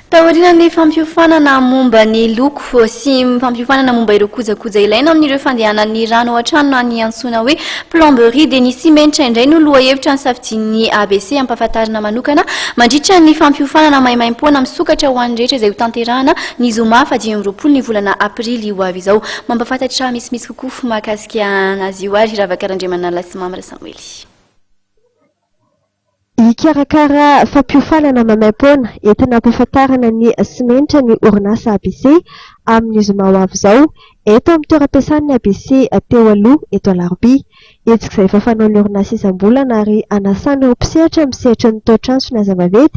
Taorian'ny fampiofanana momba ny loko sy fampiofanana momba ireo kojakoja ilaina amin'ireo fandehanan'ny rano ao an-trano na ny antsoina hoe plomberie dia ny simenitra indray no lohahevitra nisafidian'ny ABC hampahafantarina manokana mandritra ny fampiofanana maimaimpoana misokatra ho an'ny rehetra izay hotanterahana ny zoma faha dimy amby roapolo ny volana aprily ho avy izao. Mampahafantatra misimisy kokoa mahakasika an'azy io ary Ravaka Randriamanala sy Mamy Rasamoely. Hikarakara fampiofanana maimaim-poana entina hampahafantarana ny simenitra ny orinasa ABC amin'ny zoma ho avy izao eto amin'ny toeram-piasan'ny ABC teo aloha eto Alarobia. Hetsika izay efa fanaon'ny orinasa isam-bolana ary hanasana ireo mpisehatra amin'ny sehatry ny tao-trano sy ny aza vaventy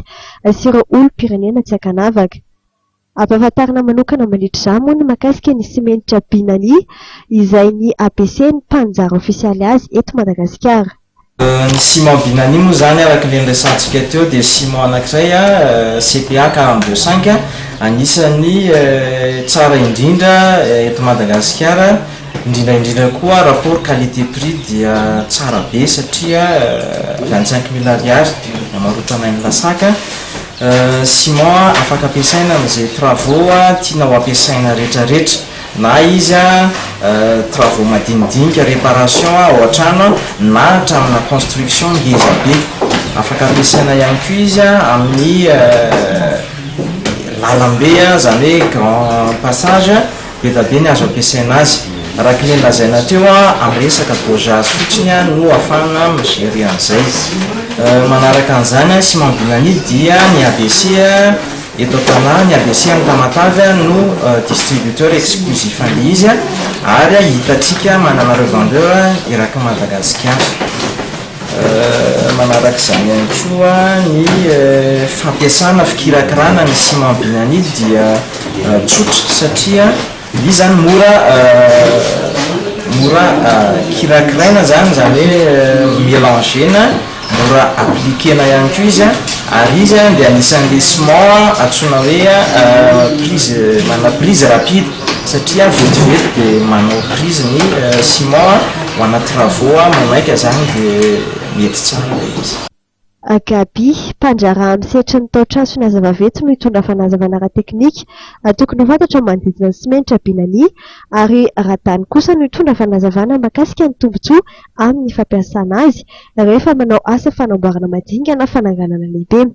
sy ireo olom-pirenena tsy ankanavaka. Ampahafantarina manokana mandritra izany moa ny mahakasika ny simenitra Binani izay ny ABC no mpaninjara ofisialy azy eto Madagasikara. Ny ciment Binani moa izany araka ilay niresahantsika teo dia ciment anankiray CPA Caram de Cinq anisan'ny tsara indrindra eto Madagasikara, indrindra indrindra koa rapport qualité prix dia tsara be satria vingt cinq mille ariary no amarotranay ny lasaka. Ciment afaka ampiasaina amin'izay travaux tiana ho ampiasaina retraretra na izy travaux madinidinika reparation ao an-trano na hatramina construction ngeza be. Afaka ampiasaina ihany koa izy amin'ny lalambe izany hoe grand passage. Bedabe ny azo ampiasaina azy. Araky le lazaina teo am resaka dosage fotsiny no afahagna mi gerer an'izay. Manaraka an'izany sy mambina an'io dia ny ABC eto an-tanà, ny ABC any Tamatave no distributeur exclusif an'le izy ary hitatsika manana revendeur eraky Madagasikara. Manaraka izany ihany koa ny fampiasana, fikirakirana ny ciment binanide dia tsotra satria izy zany mora mora kirakiraina zany izany hoe melanger-na, mora appliquer-na ihany koa izy an, ary izy an dia anisan'le ciment antsoina hoe prise manana prise rapide satria vetivety dia manao prise ny ciment an. Ho ana travaux a, manaika zany dia mety tsara ilay izy. Agaby, mpandraharaha amin'ny sehatry ny tao-traso ny Haza Vaventy no hitondra fanazavana ara-teknika ary tokony ho fantatra ny manodidina ny simenitra Binani ary Radany kosa no hitondra fanazavana mahakasika ny tombontsoa amin'ny fampiasana azy rehefa manao asa fanamboarana madinga na fananganana lehibe.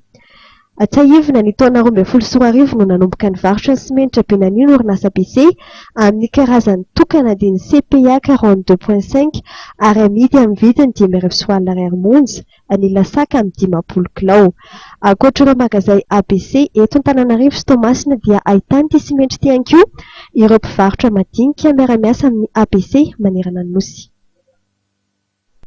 Hatsiahivina, ny taona roa ambin'ny folo sy roa arivo no nanomboka nivarotra ny simenitra benanio ny orinasa BC, amin'ny karazany tokana dia ny CPA quarante deux point cinq ary amidy amin'ny vidiny dimy arivo sy walina ariary monja ny Ilasaka amin'ny dimampolo kilao. Ankoatra ireo magazay ABC eto Antananarivo sy Toamasina dia ahitana ity simenitra ity ihany koa ireo mpivarotra madinika miara-miasa amin'ny ABC manerana ny Nosy.